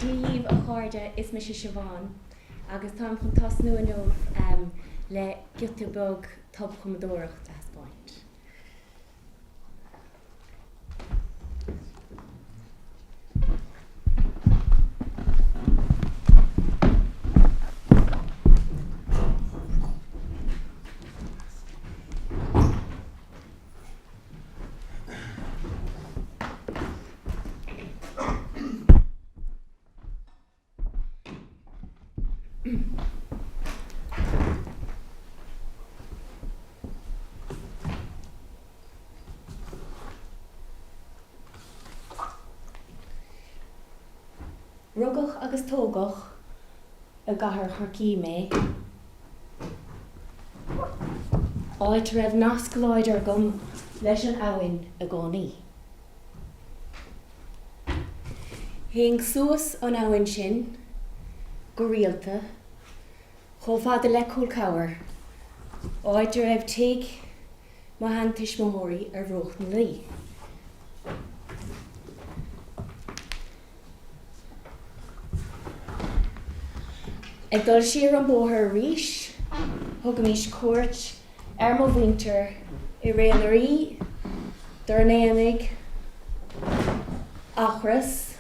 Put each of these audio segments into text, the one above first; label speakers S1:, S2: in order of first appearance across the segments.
S1: Dia dhaoibh a chairde, is mise Siobhán agus táim chun tosnú inniu le giota beag tobchumadóireacht a thaispeáint. Rugadh agus tógadh. i gcathair Chorcaí mé, áit a raibh nasc láidir agam leis an abhainn i gcónaí. Théinn suas an abhainn sin go rialta, chomh fada le Cúil Cabhair, áit a raibh tigh mo sheantuismitheoirí ar bhruach na Laoi. Ag dul siar an bóthar arís, thugaimís cuairt ar mo mhuintir i Ré na nDoirí, Doire an Aonaigh, Eachros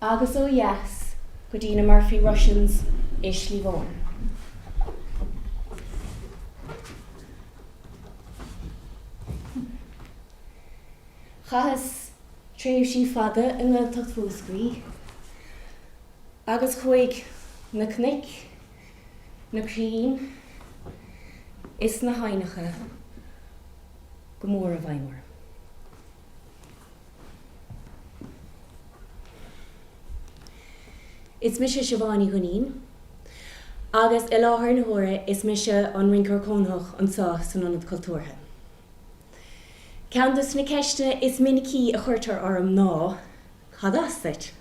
S1: agus ó dheas go dtí na Murphy Russians i Sliabh Eoghain. Chaitheas. tréimhsí fada i nGaeltacht Mhúscraí agus chuaigh na cnoic, na crainn is na haibhneacha go mór i bhfeidhm orm. Is mise Siobhán Ní Dhuinnín agus i láthair na huaire is mise an Rinceoir Cónaitheach anseo san Ionad Cultúrtha. Ceann des na ceisteanna is minicí a chuirtear orm ná, Cad as duit?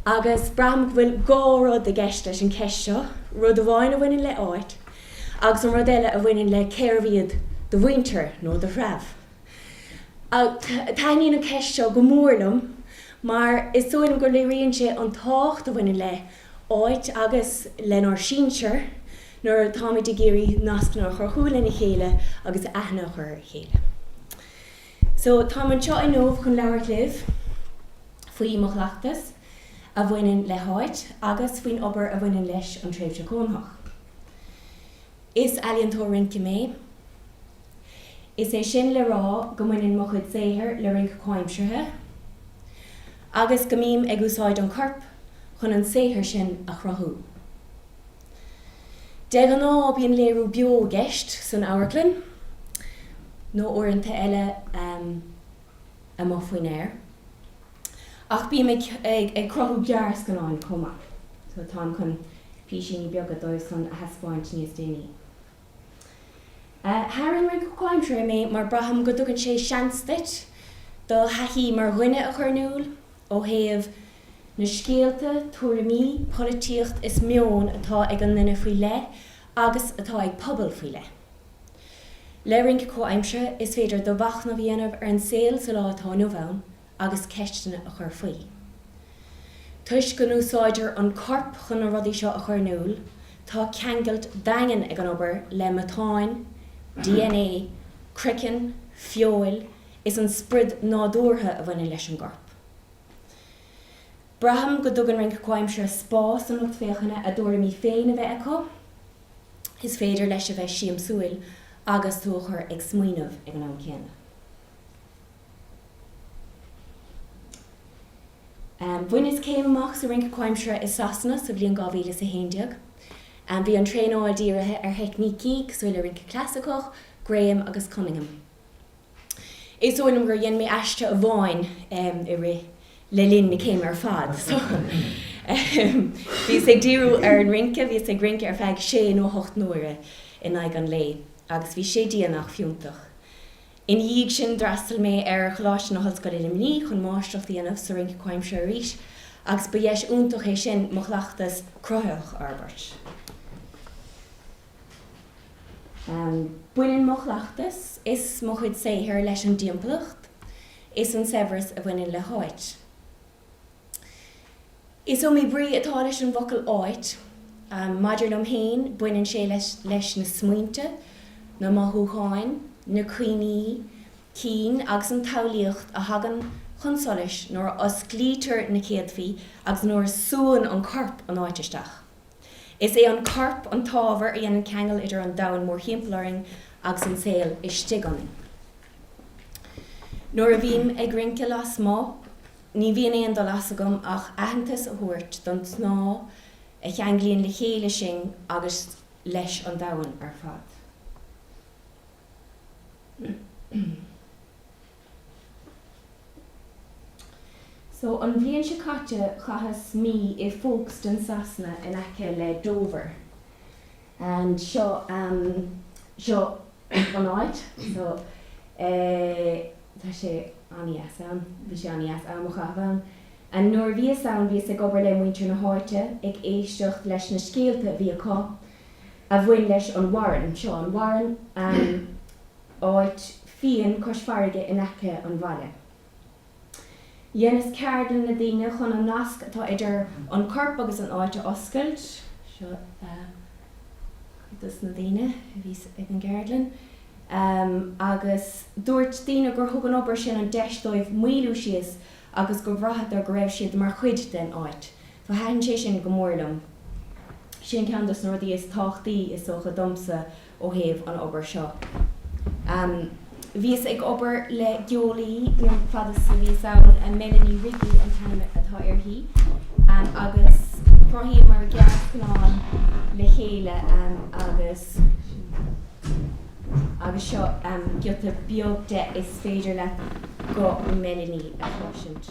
S1: Agus braithim go bhfuil dhá rud i gceist leis an cheist seo, rud amháin a bhaineann le áit, agus an rud eile a bhaineann le cérbh iad do mhuintir nó do threibh. Taitníonn an cheist seo go mór liom mar is dóigh liom gur léiríonn sé an tábhacht a bhaineann le áit agus lenár sinsir nuair atáimid ag iarraidh nascanna a chruthú lena chéile agus aithne a chur ar a chéile. So, táim anseo inniu chun labhairt libh faoi mo chleachtas a bhaineann le háit agus faoin obair a bhaineann leis an tréimhse cónaitheach. Is ealaíontóir rince mé. Is é sin le rá go mbaineann mo chuid saothair le rince comhaimseartha agus go mbím ag úsáid an choirp chun an saothar sin a chruthú. De ghnáth bíonn léiriú beo i gceist san amharclann nó uaireanta eile amuigh faoin aer. Ach bím ag cruthú gearrscannáin chomh maith so táim chun písíní beaga díobh san a thaispeáint níos déanaí. Tharraing rince comhaimseartha mé mar braithim go dtugann sé seans duit do thaithí mar dhuine a chur in iúl ó thaobh na scéalta, tuairimí, polaitíocht is meon atá ag an nduine faoi leith agus atá ag pobal faoi leith. Le rince comhaimseartha is féidir do mhachnamh a dhéanamh ar an saol sa lá atá inniu ann. agus ceisteanna a chur faoi. Toisc go n-úsáidtear an corp chun na rudaí seo a chur in iúl, tá ceangailt daingean ag an obair le matáin, DNA, croiceann, feoil, is an sprid nádúrtha a bhaineann leis an gcorp. Braithim go dtugann rince comhaimseartha spás don lucht féachana a dtuairimí féin a bheith acu. Is féidir leis a bheith siamsúil agus tú a chur ag smaoineamh ag an am céanna. Bhaineas céim amach sa Rince Comhaimseartha i Sasana sa bhliain 2011. Bhí an traenáil dírithe ar theicnící cosúil le rince clasaiceach, Graham agus Cunningham. Is dóigh liom gur dhein mé aiste amháin i rith, le linn na céime ar fad so bhíos ag díriú ar an rince, bhíos ag rince ar feadh sé nó hocht n-uaire in aghaidh an lae agus bhí sé dian ach fiúntach. Ina dhiaidh sin, d'fhreastail mé ar Choláiste na hOllscoile i Luimnigh chun máistreacht a dhéanamh sa Rince Comhaimseartha arís, agus ba dheis iontach é sin mo chleachtas cruthaitheach a fhorbairt. Baineann mo chleachtas is mo chuid saothair leis an dtimpeallacht is an saibhreas a bhaineann le háit. Is iomaí brí atá leis an bhfocal 'áit'. Maidir liom féin, baineann sé leis na smaointe, na mothúcháin, na cuimhní cinn agus an tsamhlaíocht a thagann chun solais nuair a osclaítear na céadfaí agus nuair a súann an corp an áit isteach. Is é an corp an t-ábhar a dhéanann ceangal idir an domhan mórthimpeall orainn agus an saol istigh ionainn. Nuair a bhím ag rince lasmuigh, ní bhíonn aon dul as agam ach aitheantas a thabhairt don snáth a cheanglaíonn le chéile sinn agus leis an domhan ar fad. So, an bhliain seo caite, chaitheas mí i Folkestone, Sasana, in aice le Dover. And seo, ehm, seo an áit. So, eh, tá sé an-deas ann. Bhí sé an-deas am a chaitheamh ann. And nuair a bhíos ann, bhíos ag obair le muintir na háite, ag éisteacht leis na scéalta a bhí acu a bhain leis an Warren. Seo an Warren. And. áit fiain cois farraige in aice an bhaile. Dheineas ceardlann le daoine chun an nasc atá idir an corp agus an áit a oscailt. Seo cuid dos na daoine a bhí ag an gceardlann agus dúirt daoine gur thug an obair sin an deis dóibh maolú síos agus gur bhraitheadar go raibh siad mar chuid den áit. So thaitin sé sin go mór liom. Sin ceann dos na rudaí is tábhachtaí is dócha domsa. ó thaobh an obair seo. Bhíos ag obair le geolaí fad is a bhíos ann, Melanie Wrigley an t-ainm atá uirthi, agus chruthaíomar gearrscannán le chéile agus agus seo giota beag de, is féidir leat guth Melanie a chloisint.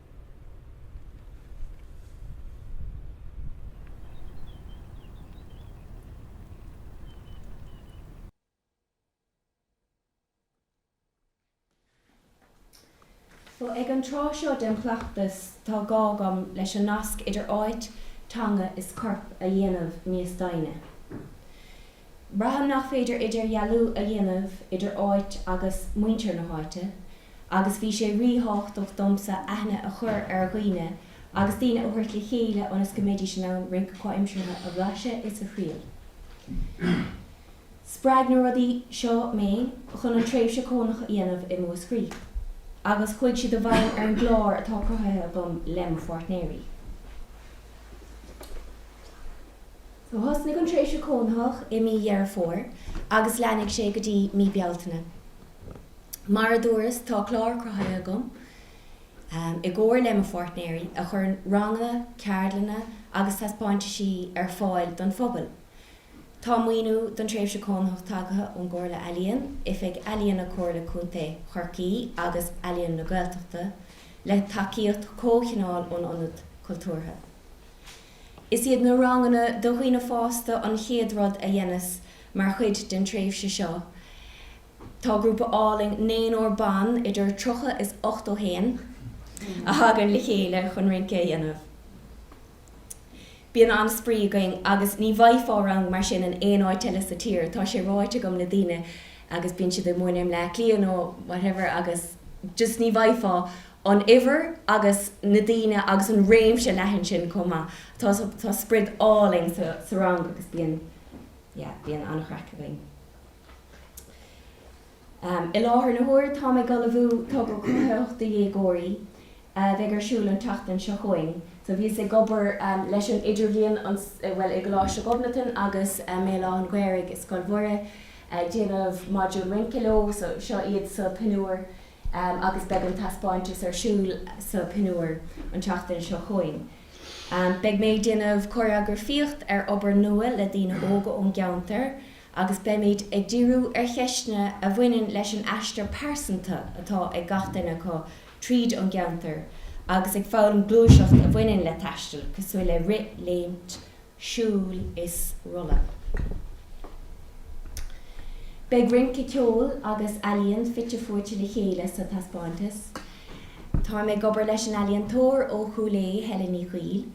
S1: So, ag an tráth seo den chleachtas, tá gá agam leis an nasc idir áit, teanga is corp a dhéanamh níos doimhne. Braithim nach féidir idirdhealú a dhéanamh idir áit agus muintir na háite, agus bhí sé ríthábhachtach domsa aithne a chur ar dhaoine agus daoine a thabhairt le chéile ionas go mbeidís in ann rinc comhaimseartha a bhlaiseadh is a thriail. Spreag na rudaí seo mé chun an tréimhse cónaitheach a dhéanamh i Múscraí, agus chuaigh siad i bhfeidhm ar an gclár atá cruthaithe agam lem pháirtnéirí. Thosnaigh an tréimhse cónaitheach i mí Dheireadh Fómhair agus leanfaidh sé go dtí mí Bealtaine. Mar a dúras tá clár cruthaithe agam, i gcomhar le mo pháirtnéirí, a chuireann ranganna, ceardlanna agus taispeáintisí ar fáil don phobal. Tá maoiniú don tréimhse cónaitheach tagtha ón gComhairle Ealaíon, Oifig Ealaíon Comhairle Contae Chorcaí agus Ealaín na Gaeltachta, le tacaíocht comhchineáil ón Ionad Cultúrtha. Is iad na ranganna do dhaoine fásta an chéad rud a dheineas mar chuid den tréimhse seo. Tá grúpa álainn naonúr ban, idir tríocha is ochtó haon, a thagann le chéile chun rince a dhéanamh. Bíonn an-spraoi againn agus ní bhfaighfeá rang mar sin in aon áit eile sa tír. Tá sé ráite agam le daoine agus bíonn siad i mBaile i mBleá Cliath nó whatever agus just ní bhfaighfeá an uimhir agus na daoine agus an réimse leathan sin chomh maith. Tá, tá sprid álainn sa, sa rang agus bíonn, yeah, bíonn an-chraic againn. I láthair na huaire táim ag ullmhú togra cruthaitheach do dhéagóirí a bheidh ar siúl an tseachtain seo chugainn. So bhíos ag obair leis an Idirbhliain an, bhuel i gColáiste Ghobnatan agus i mBéal Átha'n Ghaorthaidh i Scoil Mhuire ag déanamh module rince leo, so seo iad sa, pinniúr. agus beidh an taispeántas ar siúl sa pinniúr an tseachtain seo chugainn. Beidh mé ag déanamh cóiréagrafaíocht ar obair nua le daoine óga ón gceantar agus beimid ag díriú ar cheisteanna a bhaineann leis an aistear pearsanta atá ag gach duine acu tríd an gceantar agus ag foghlaim gluaiseacht a bhaineann le taisteal cosúil le rith, léimt, siúl is rolladh. Beidh rince, ceol agus ealaíon fite fuaite le chéile sa taispeántas. Táim ag obair leis an ealaíontóir ó Chúil Aodha, Helen Ní Chuill,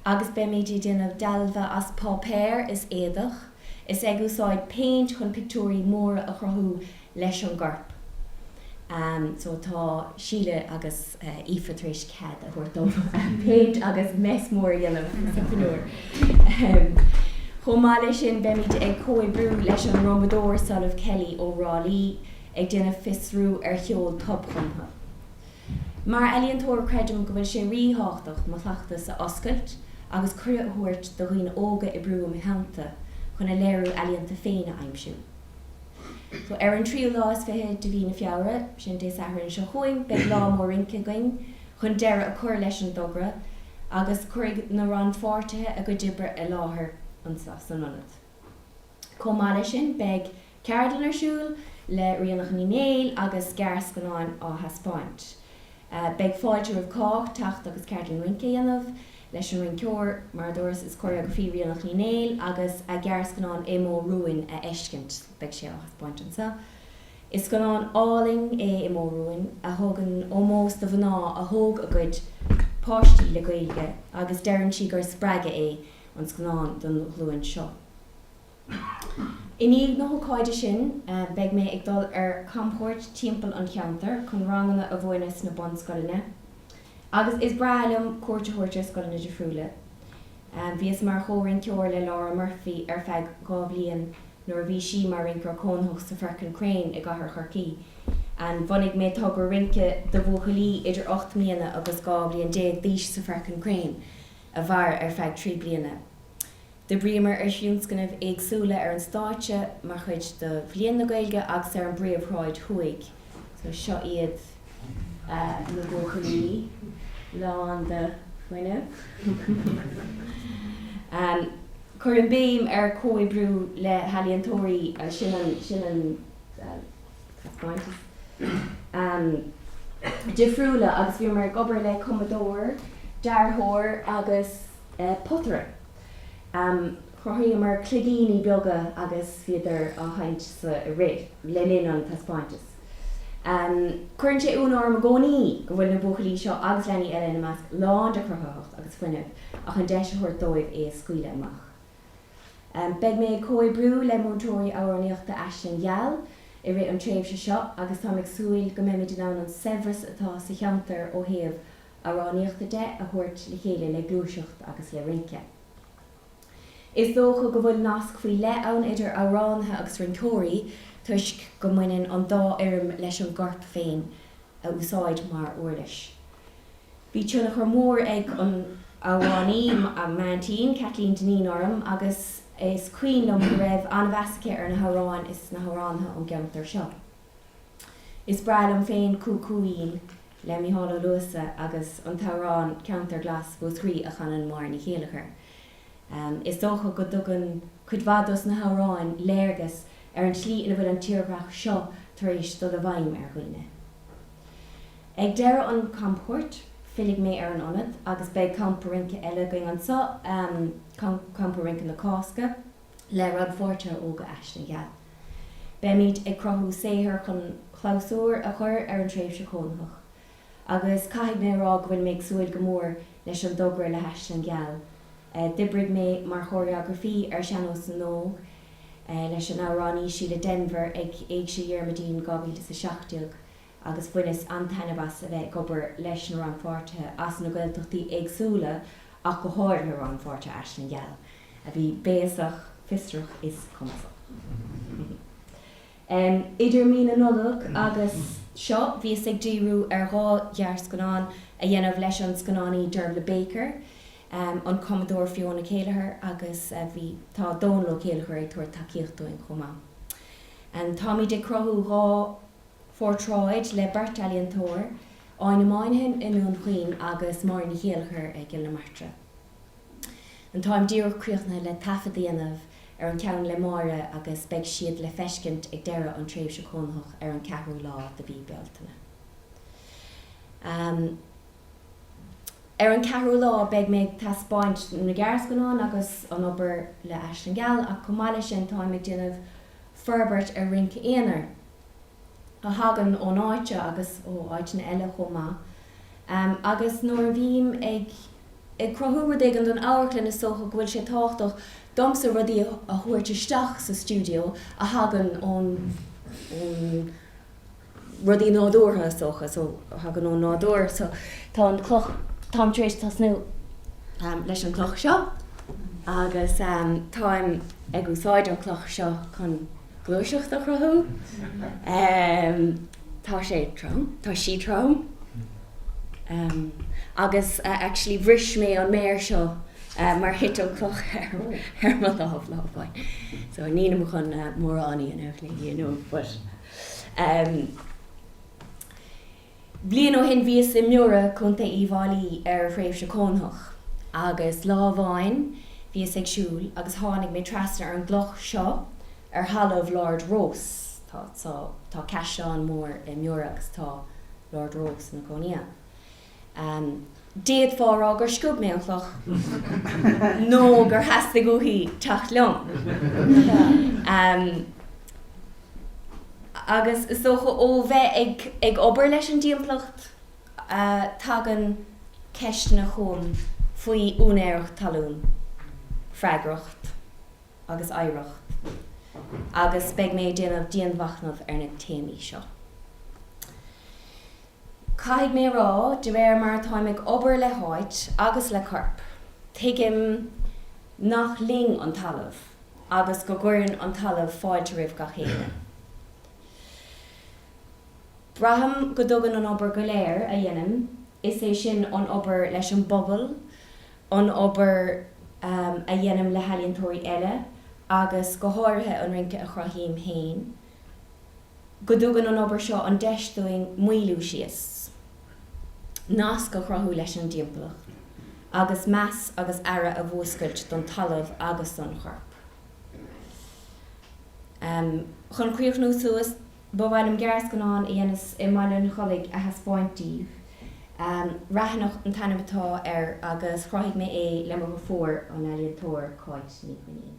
S1: agus beimid ag déanamh dealbha as páipéar is éadach, is ag úsáid péint chun pictiúirí móra a chruthú leis an gcorp. So tá Síle agus Aoife tar éis cead a thabhairt dom péint agus mess mór a dhéanamh sa pinniúr. Chomh maith leis sin beimid ag comhoibriú leis an ndrumadóir Solamh Kelly ó Thrá Lí ag déanamh fiosrú ar cheol tobchumtha. Mar ealaíontóir creidim go bhfuil sé ríthábhachtach mo chleachtas a oscailt agus cuireadh a thabhairt do dhaoine óga oibriú im theannta chun a léiriú ealaíonta féin a aimsiú. So, ar an tríú lá is fiche de mhí na Feabhra, sin Dé Sathairn seo chugainn, beidh lá mór rince againn chun deireadh a chur leis an dtogra agus cuirfidh na rannpháirtithe a gcuid oibre i láthair anseo san ionad. Chomh maith leis sin, beidh ceardlann ar siúl le Ríonach Ní Néill agus gearrscannán á thaispeáint. Beidh fáilte roimh cách, teacht agus ceardlann rince a dhéanamh leis an rinceoir, mar a dúras, is cóiréagrafaí Ríonach Ní Néill agus a gearrscannán I Modh Rúin a fheiscint, beidh sé á thaispeáint anso. Is scannán álainn é I Modh Rúin, a thugann ómós do mhná a thóg a gcuid páistí le Gaeilge agus deireann sí gur spreagadh é an scannán don ghlúin seo. I ndiaidh na hócáide sin, beidh mé ag dul ar camchuairt timpeall an cheantair chun ranganna a mhúineadh sna bunscoileanna. Agus is breá liom cuairt a thabhairt ar scoileanna difriúla. Bhíos mar chomhrinceoir le Laura Murphy ar feadh dhá bhliain nuair a bhí sí mar rinceoir cónaitheach sa Firkin Crane i gcathair Chorcaí. Bhunaigh mé togra rince do bhuachaillí idir ocht mbliana agus dhá bhliain déag d'aois sa Firkin Crane a mhair ar feadh trí bliana. D'oibríomar ar thionscnaimh éagsúla ar an stáitse mar chuid de Bhliain na Gaeilge agus ar an bPríomhshráid Thuaidh. So seo iad na buachaillí lán de fuinneamh. Cuirim béim ar comhoibriú le healaíontóirí agus sin an, sin an, well, tá points ann. difriúla agus bhíomar ag obair le cumadóir, dearthóir agus potaire. Chruthaíomar cloigíní beaga agus bhíodar á sheinnt i rith, le linn an taispeántais. Cuireann sé ionadh orm i gcónaí go bhfuil na buachaillí seo, agus leanaí eile ina measc, lán de chruthaitheacht agus fuinneamh ach an deis a thabhairt dóibh é a scaoileadh amach. Beidh mé ag comhoibriú le múinteoirí amhránaíochta Aisling Gheal i rith an tréimhse seo agus táim ag súil go mbeimid in ann an saibhreas atá sa cheantar ó thaobh amhránaíochta de a thabhairt le chéile le gluaiseacht agus le rince. Is dócha go bhfuil nasc faoi leith ann idir amhránaithe agus rinceoirí toisc go mbaineann an dá fhoirm leis an gcorp féin a úsáid mar uirlis. Bhí tionchar mór ag an amhránaí m'aintín, Kathleen Dineen, orm agus is cuimhin liom go raibh an-mheas aici ar na hamhráin is na hamhránaithe ón gceantar seo. Is breá liom féin Cú-Cú-Ín le Mícheál Ó Luasa agus an t-amhrán Ceantar Glas Mhúscraí a chanann Máire Ní Chéileachair. Is dócha go dtugann cuid mhaith dos na hamhráin léargas ar an tslí ina bhfuil an tírdhreach seo tar éis dul i bhfeidhm ar dhaoine. Ag deireadh an chamchuairt, fillfidh mé ar an Ionad agus beidh campa rince eile againn anso, Campa Rince na Cásca. le rannpháirtithe óga Aisling Gheal. Beimid ag cruthú saothair chun clabhsúr a chur ar an tréimhse chónaitheach agus caithfidh mé a rá go bhfuil mé ag súil go mór leis an dtogra le hAisling Gheal. D'oibrigh mé mar chóiréagrafaí ar Sean-nós na nÓg leis an amhránaí Síle Denvir ag Éigse Dhiarmuidín 2017. agus bhaineas an-taitneamh as a bheith ag obair leis na rannpháirtithe as na Gaeltachtaí éagsúla ach go háirithe rannpháirtithe Aisling Gheal a bhí béasach, fiosrach is cumasach. Idir mí na Nollag agus seo bhíos ag díriú ar dhá ghearrscannán a dhéanamh leis an scannánaí Dervla Baker, an cumadóir Fiona Kelleher agus bhí tá Dónal Ó Céilleachair ag tabhairt tacaíocht dúinn chomh maith. Táimid ag cruthú dhá. Phortráid le beirt ealaíontóir, Áine Moynihan i nDún Chaoin agus Máire Ní Chéileachair i gCill na Martra. An táim díreach críochnaithe le taifead a dhéanamh ar an ceann le Máire agus beidh siad le feiscint ag deireadh an tréimhse chónaitheach ar an 4ú lá de mhí Bealtaine. Ar an 4ú lá beidh mé ag taispeáint na gearrscannán agus an obair le Aisling Gheal ach chomh maith le sin táim ag déanamh forbairt ar rince aonair. a thagann ón áit seo agus ó áiteanna eile chomh maith, agus nuair a bhím ag cruthú rud éigin don amharclann is dócha go bhfuil sé tábhachtach domsa rudaí a thabhairt isteach sa stiúideo a thagann ón rudaí nádúrtha is dócha, so a thagann ón nádúr, so tá an cloch, táim tar éis tosnú leis an chloch seo agus táim ag úsáid an chloch seo chun. gluaiseacht a chruthú. Tá sé trom, tá sí trom agus actually bhris mé an méar seo mar thit an cloch ar mo lámh lá amháin so nílim chun mórán a dhéanamh léi inniu but. Bliain ó shin bhíos i mBiorra Contae Uíbh Fháilí ar thréimhse chónaitheach agus lá amháin bhíos ag siúl agus tháinig mé trasna ar an gcloch seo ar thalamh Lord Rosse. Tá, tá, tá caisleán mór i mBiorra agus tá Lord Rosse ina chónaí ann. D'fhéadfá a rá gur sciob mé an chloch nó gur theastaigh uaithi teacht liom. Agus is dócha ó bheith ag obair leis an dtimpeallacht tagann ceisteanna chugam faoi úinéireacht talún, freagracht agus oidhreacht agus beidh mé ag déanamh dianmhachnamh ar na téamaí seo. Caithfidh mé a rá, de réir mar atáim ag obair le háit agus le corp, tuigim nach linn an talamh agus go gcuireann an talamh fáilte roimh gach éinne. Braithim go dtugann an obair go léir a dhéanaim, is é sin an obair leis an bpobal, an obair a dhéanaim le healaíontóirí eile agus go háirithe an rince a chruthaím féin, go dtugann an obair seo an deis dúinn moilliú síos, nasc a chruthú leis an dtimpeallacht, agus meas agus aire a mhúscailt don talamh agus don chorp. Chun críochnú suas, ba mhaith liom gearrscannán a dhéanas i mBaile an Chollaigh a thaispeáint daoibh. Raithneach an t-ainm atá air agus chruthaigh mé é le mo dheirfiúr, an ealaíontóir Cáit Ní Dhuinnín.